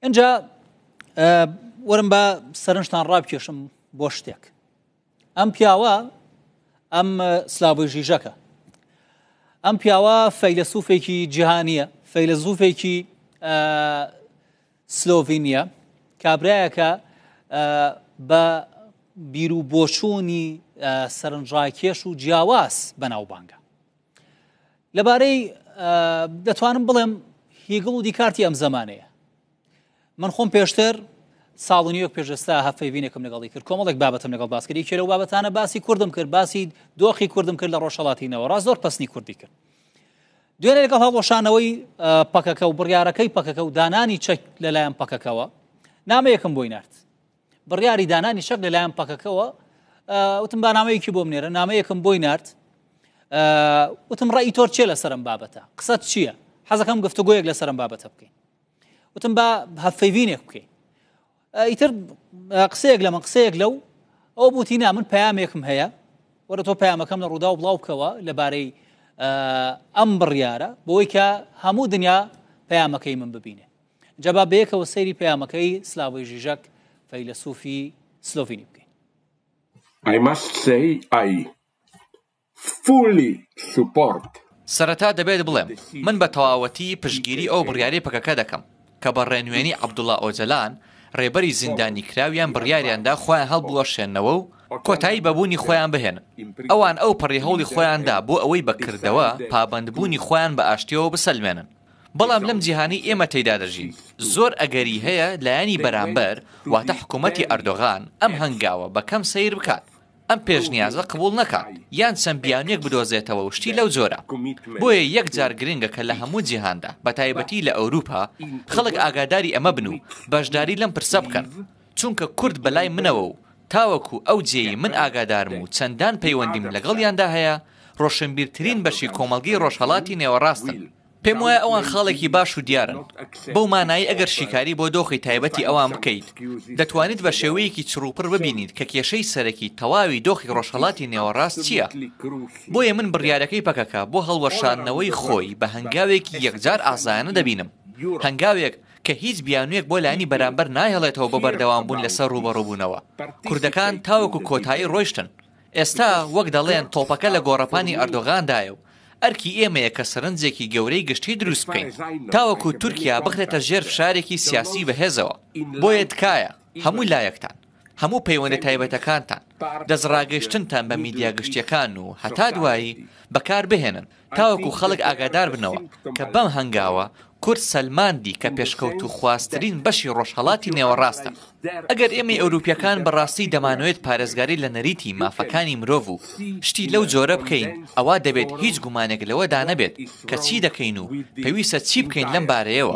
ئەجا وەرم بە سەرنجتان ڕابکێشم بۆ شتێک ئەم پیاوە ئەم سلاوی ژیژەکە ئەم پیاوە فەیلەسوفێکی جیهانیە فەیلەزوفێکی سلۆڤینیە کابراایەکە بە بیر و بۆچوونی سەرنجڕاکێش و جیاواز بەناوبانگە لەبارەی دەتوانم بڵێم هیگڵ و دیکارتی ئەم زمانەیە من خۆم پێشتر ساڵنیەک پێشستا هەفەیبینێکم لەگەڵی کرد کۆمەڵێک بابەتم لەگەڵ باسکردی کێرە و بابەتانە باسی کوردم کرد باسی دۆخی کوردم کرد لە ڕۆژهڵاتینەوە ڕاست زۆر پسنی کوردی کرد دوێنێ لەگەڵ هەڵۆشانەوەی پەکەکە و بڕیارەکەی پەکەکە و دانانی چەک لەلایەن پەکەکەوە نامەیەکم بۆی نرد بڕیاری دانانی چەک لەلایەن پەکەکەوە وتم با نامەیەکی بۆم نێرە نامەیەکم بۆی نرد وتم ڕێی تۆر چێ لەسرم بابەتە قسەت چییە حەزەکەم گفتوگوۆیەک لەسرم بابەتە بکەین وتم با هەفەیڤینێک بکەین ئیتر قسەیەک لە من قسەیەک لەو ئەو بوتی نا من پامێکم هەیە وەرە تۆ پامەکەم لە ڕوودا و بڵاو بکەوە لەبارەی ئەم بڕیارە بۆی کە هەموو دنیا پەیامەکەی من ببینێ جا با بەیەکەوە سەیری پەیامەکەی سلاڤۆی ژیژەک فەیلەسوفی سلۆڤینی بکەین. I must say I fully support سەرەتا دەبێت بڵێم من بە تەواوەتی پشتگیری ئەو بڕیارەی پەکەکە دەکەم کە بە ڕێنوێنی عەبدوڵا ئۆجەلان ڕێبەری زیندانیکراویان بڕیاریان دا خۆیان هەڵبوەشێننەوە و کۆتایی بە بوونی خۆیان بهێنن. ئەوان ئەوپەڕی هەوڵی خۆیان دا بۆ ئەوەی بە کردەوە پابەندبوونی خۆیان بە ئاشتییەوە بسەلمێنن. بەڵام لەم جیهانەی ئێمە تێیدا دەژین، زۆر ئەگەری هەیە لایەنی بەرامبەر، واتە حکومەتی ئەردۆغان ئەم هەنگاوە بە کەم سەیر بکات، ئەم پێشنیازە قبوڵ نەکات، یان چەند بیانوویەک بدۆزێتەوە و شتی لەو جۆرە. بۆیە یەکجار گرنگە کە لە هەموو جیهاندا، بەتایبەتی لە ئەوروپا، خەڵک ئاگاداری ئەمە بن و بەشداری لەم پرسە بکەن، چونکە کورد بە لای منەوە و تاوەکو ئەو جێیەی من ئاگادارم و چەندان پەیوەندیم لەگەڵیاندا هەیە، ڕۆشنبیرترین بەشی کۆمەڵگەی ڕۆژهەڵاتی نێوەڕاستن. پێم وایە ئەوان خاڵێکی باش و دیارن بەو مانایی ئەگەر شیکاری بۆ دۆخی تایبەتی ئەوان بکەیت دەتوانیت بە شێوەیەکی چڕوپڕ ببینیت کە کێشەی سەرەکی تەواوی دۆخی ڕۆژهڵاتی نێوەڕاست چییە بۆیە من بڕیارەکەی پەکەکە بۆ هەڵوەشاندنەوەی خۆی بە هەنگاوێکی یەکجار ئازایانە دەبینم هەنگاوێک کە هیچ بیانوێک بۆ لانی بەرامبەر نایەڵێتەوە بۆ بەردەوام بوون لەسەر ڕوبەڕوبوونەوە کوردەکان تاوەکو کۆتایی ڕۆیشتن ئێستا وەک دەڵێن تۆپەکە لە گۆڕەپانی ئەردۆغاندایە و ئەرکی ئێمەیە کە سەرنجێکی گەورەی گشتی دروست بکەین تاوەکو تورکیا بخرێتە ژێر فشارێکی سیاسی بەهێزەوە بۆیە تکایە هەموو لایەکتان هەموو پەیوەندە تایبەتەکانتان دەستڕاگەیشتنتان بە میدیا گشتیەکان و هەتا دوایی بەکاربهێنن تاوەکو خەڵک ئاگادار بنەوە کە بەم هەنگاوە کورد سەلماندی کە پێشکەوت و خواسترین بەشی ڕۆژهەڵاتی نێوەڕاستە ئەگەر ئێمەی ئەوروپیەکان بەڕاستی دەمانوێت پارێزگاری لە نەریتی مافەکانی مرۆڤ و شتی لەو جۆرە بکەین ئەوا دەبێت هیچ گومانێک لەوەدا نەبێت کە چی دەکەین و پێویستە چی بکەین لەم بارەیەوە